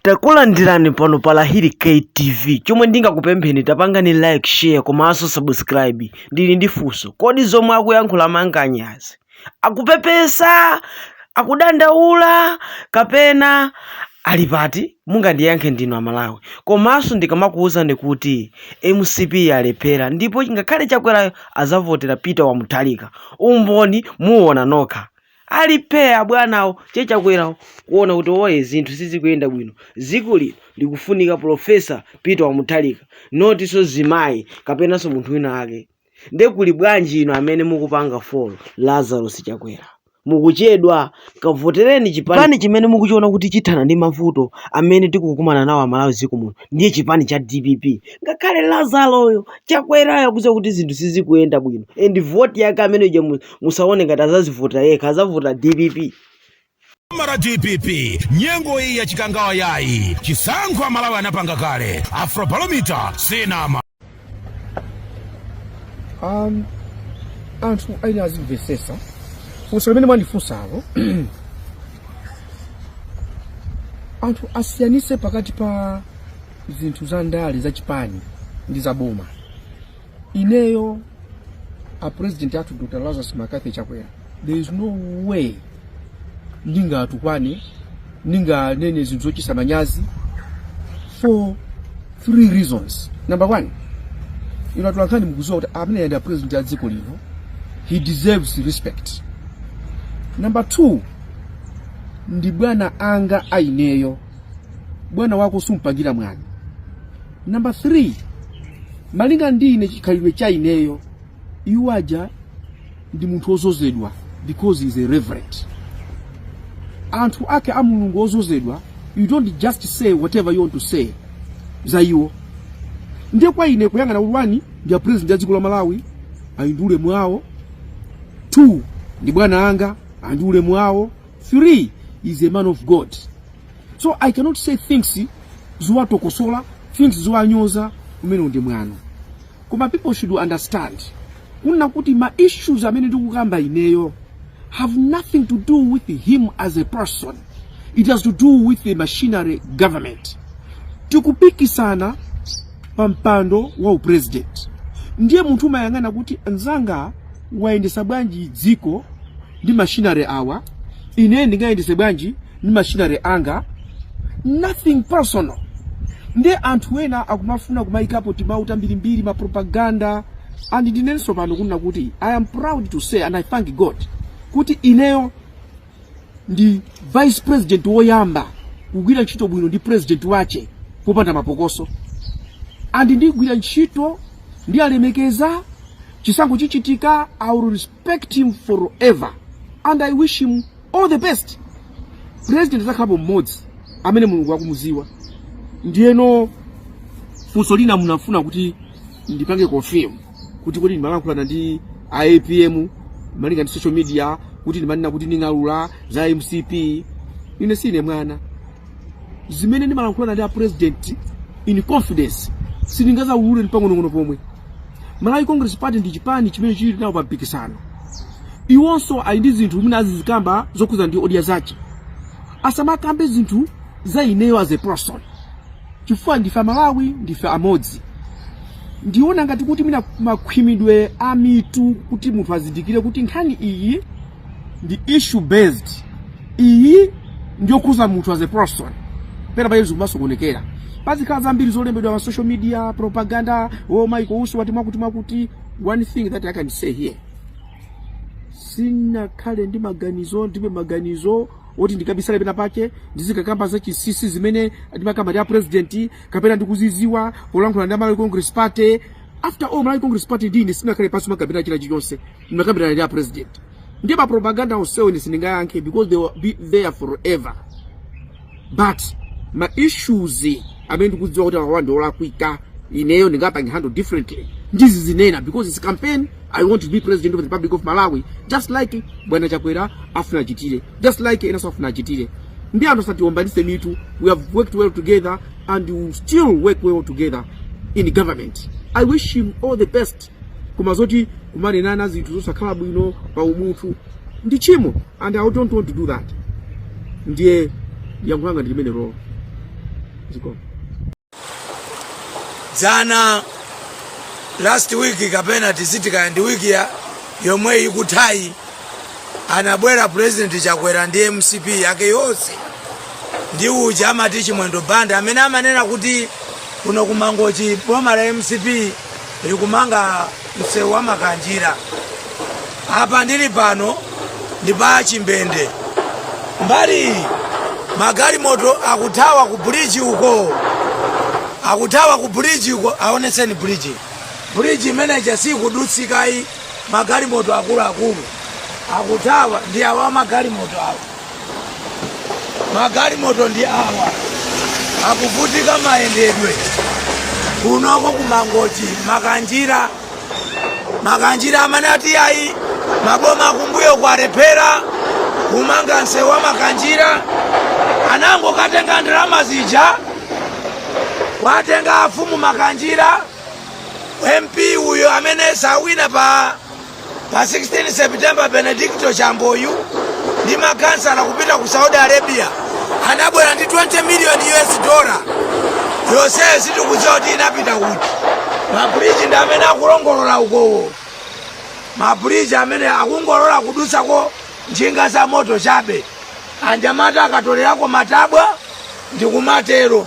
Takulandirani pano pa Lahiri K TV. Chomwe ndingakupempheni tapangani like, share komanso subscribe. Ndili ndi funso. Kodi zomwe akuyankhula mankanyazi? Akupepesa? Akudandaula kapena ali pati? Mungandiyankhe ndinu Amalawi. Komanso ndikamakuwuzani kuti mcp yalephera ndipo ngakhale Chakwerayo azavotera Peter wa Mutharika. Umboni muwuona nokha. ali phee abwanawo che chakwerawo kuona kuti oye zinthu sizikuyenda bwino ziko lino likufunika professor peter wa mutharika not nso zimayi kapenanso munthu wina ake nde kuli bwanji inu amene mukupanga follow lazarus chakwera mukuchedwa kavotereni chipani chimene mukuchiona kuti chithana ndi mavuto amene tikukumana nawo amalawi ziko muno ndiye chipani cha dpp ngakhale lazaroyo chakwerayo akuziwa kuti zinthu sizikuyenda bwino and voti yake amene uja musaone ngati azazivotera yekha azavotera dpp. Boma la dpp nyengo iyi ya chikangawa yayi chisankho amalawi anapanga kale afrobalomita sinama um, anthu ena azimvesesa funso limene mwandifunsalo anthu asiyanise pakati pa zinthu za ndale za chipani ndi za boma ineyo a president athu dr lazarus mccarthy chakwera there is no way ndingatukwane ndinganene zinthu zochitisa manyazi for three reasons number one inu atolankhani mukuziwa kuti ameneyo ndi a president a dziko lino he deserves respect number two ndi bwana anga aineyo bwana wako sumpangira mwano Number three, malinga ndi ine chikhalidwe cha ineyo iwo aja ndi munthu ozozedwa because he is a reverend anthu ake a mulungu ozozedwa you don't just say whatever you want to say za iwo ndiye kwa ine kuyang'ana kuti one ndi a president a dziko la malawi ali ndi ulemu wawo two ndi bwana anga ali ndi ulemu wawo three he is a man of god so i cannot say things zowatokosola things zowanyoza umene uli mwano koma people should understand kunena kuti ma issues amene ndikukamba ineyo have nothing to do with him as a person it has to do with the machinery government tikupikisana pa mpando wa upresident ndiye munthu umayang'ana kuti nzanga wayendesa bwanji dziko ndi machinery awa ine ndingayendese bwanji ndi achimwene anga nothing personal nde anthu ena akumafuna kumaikapo timawu tambirimbiri mapropaganda and ndinenenso pano kunena kuti i am proud to say and i thank god kuti ineyo ndi vice president woyamba kugwira ntchito bwino ndi president wache popanda mapokoso and ndigwira ntchito ndiyalemekeza chisankho chichitika i will respect him forever and i wish him all the best president adzakhalapo mmodzi amene mulungu akumuziwa ndiye funso lina munafuna kuti ndipange confirm kuti kuti ndimalankhulana ndi aapm malinga ndi social media kuti ndimanena kuti ndingaulula za mcp ine sine mwana zimene ndimalankhulana ndi a president in confidence sindingazaulule ndi pang'onong'ono pomwe Malawi Congress Party ndi chipani chimene chili nawo pa mpikisano iwonso ali ndi zinthu zimene azizikamba zokhudzana ndi odya zace asamakambe zinthu za ineyo as a person chifukwa ndife amalawi ndife amodzi ndiona ngati kuti mwina makhwimidwe a mitu kuti munthu azindikire kuti nkhani iyi ndi issue based iyi ndiyokhuza munthu as a person pena pake zikumasokonekera pazikhala zambiri zolembedwa pa social media propaganda oh Michael Usi wati mwakuti mwakuti one thing that i can say here sinakhale ndi maganizo ndibe maganizo oti ndikabisale pena pake ndizikakamba za chisisi zimene ndimakamba ndi a president kapena ndikuziziwa polankhula ndi a malawi congress party after all malawi congress party ndi ine sitinakhale pansi nkukambirana china chilichonse ndinakambirana ndi apresident nde mapropaganda onsewo ine sindingayankhe because they will be there forever but ma issues amene ndikudziwa kuti awa ndi olakwika ineyo ndingapange handle differently ndizizinena because it's campaign i want to be president of the republic of malawi just like bwana chakwera afuna achitere just like enanso afuna achitere nde anthu asatiombanise mitu we have worked well together and we will still work well together in government i wish him all the best koma zoti kumanenana zinthu zosakhala bwino pa umunthu ndi tchimo and i don't want to do that ndiye yankho langa ndi limenelo zikomo dzana last week kapena tiziti kaya ndi wiki yomwe ikuthayi anabwera president chakwera ndi mcp yake yonse ndi uja amati chimwendo banda amene amanena kuti kuno ku mangochi boma la mcp likumanga msewu wa makanjira apa ndili pano ndi pa chimbende mbali iyi magalimoto akuthawa ku bridge uko akuthawa ku bridge uko aonetseni bridge bridge imeneja sikudutsikayi magalimoto akuluakulu akuthawa ndi awa magalimoto awa magalimoto ndi awa akuvutika mayendedwe kunoko ku Mangochi Makanjira Makanjira amanena kuti ayi maboma akumbuyo kwalephera kumanga msewu wa Makanjira anangokatenga ndalama zija kwatenga afumu Makanjira MP uyo amene sawina pa Pa 16 September, Benedicto Chambo uyu ndi makhansala kupita ku Saudi Arabia anabwera ndi 20 million US dollar. Yonseyo sitikudziwa kuti inapita kuti. Mabridge ndi amene akulongolola ukowo. Mabridge amene akungolola kudutsako njinga za moto chabe. Anyamata akatolerako matabwa ndi kumatero.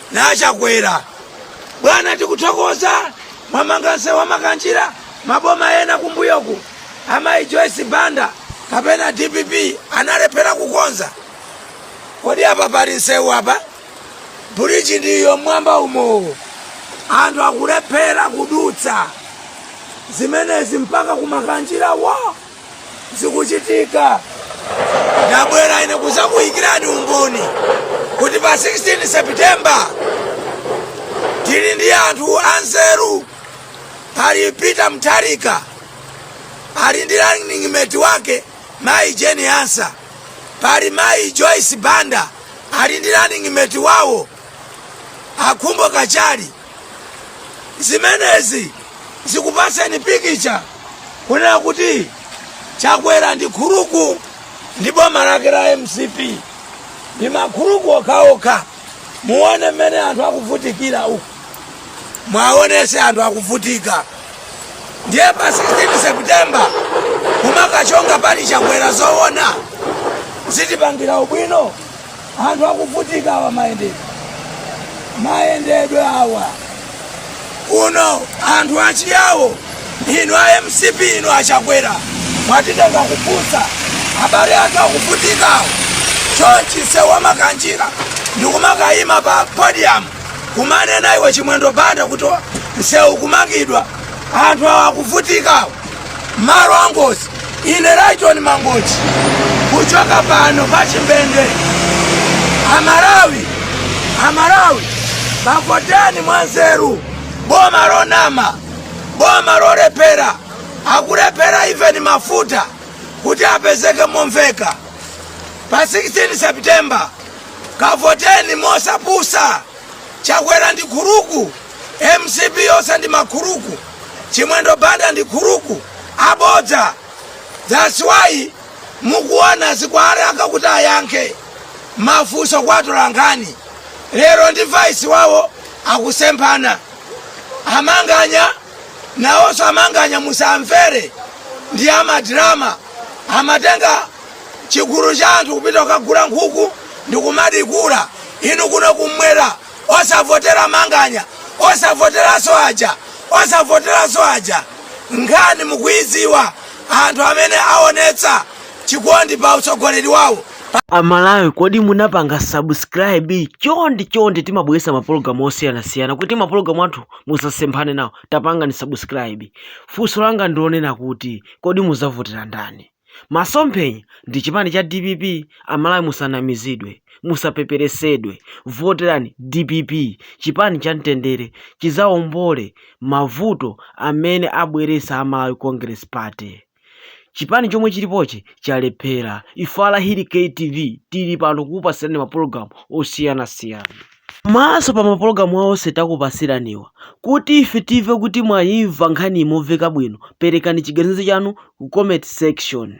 a Chakwera bwana tikuthokoza mwamanga nsewu wa Makanjira maboma ena kumbuyoku amayi Joyce Banda kapena DPP analephera kukonza kodi apa pali nsewu apa bridge ndiyo m'mwamba umowo anthu akulephera kudutsa zimenezi mpaka ku Makanjira wo zikuchitika ndabwera ine kudzakuyikirani umboni kuti pa 16 september tili ndi anthu anzeru pali Peter Mutharika ali ndi running mate wake mayi Jane Ansah pali mayi Joyce Banda ali ndi running mate wawo a Khumbo Kachali zimenezi zikupatseni pikicha kunena kuti Chakwera ndi kuluku ndi boma lake la MCP ndi makuluku okhaokha muone mmene anthu akuvutikira uku muwaonetse anthu akuvutika ndiye pa 16 September kumakachonga pali Chakwera zoona zitipangira ubwino anthu akuvutika awa mayendedwe mayendedwe awa kuno anthu achiyawo inu a MCP inu a Chakwera mwatitenga kupusa abale athu akuvutika awa chonchi nsewu wa Makanjira ndikumakayima pa podium kumanena iwo Chimwendo Banda kuti msewu ukumangidwa anthu awa akuvutika awa malo angozi ine Lyton Mangochi kuchoka pano pa Chimbende amalawi amalawi kavoteni mwanzeru boma lonama boma lolephera akulephera even mafuta kuti apezeke momveka pa 16 september kavoteni mosapusa Chakwera ndi khuruku, mcp yonse ndi makhuruku, Chimwendo Banda ndi khuruku, abodza. Thats why mukuona zikuwalaka kuti ayankhe mafunso kwa atolankhani. Lero ndi vice wawo akusemphana. A Manganya nawonso a Manganya musamvere ndi a madirama amatenga chigulu cha anthu kupita kukagula nkhuku ndikumadikula inu kuno kumwera osavotera manganya osavoteraso aja osavoteraso aja nkhani mukuiziwa anthu amene aonetsa chikondi pa utsogoleri wawo amalawi kodi munapanga subscribe chondi chondi timabweretsa mapologalamu osiyanasiyana kuti mapologalamu athu musamasemphane nawo tapangani subscribe funso langa ndilonena kuti kodi muzavotera ndani Masomphenya ndi chipani cha dpp amalawi musanamizidwe, musapeperesedwe voterani dpp chipani cha mtendere chizaombole mavuto amene abweresa a Malawi congress party chipani chomwe chilipochi chalephera ife a lahiri KTV tili pano kukupasirani ma program osiyana siyana. Komanso pa mapologalamu awa onse takupatsiraniwa, kuti ife timve kuti mwayimva nkhaniyi momveka bwino, perekani chiganizo chanu ku comment section.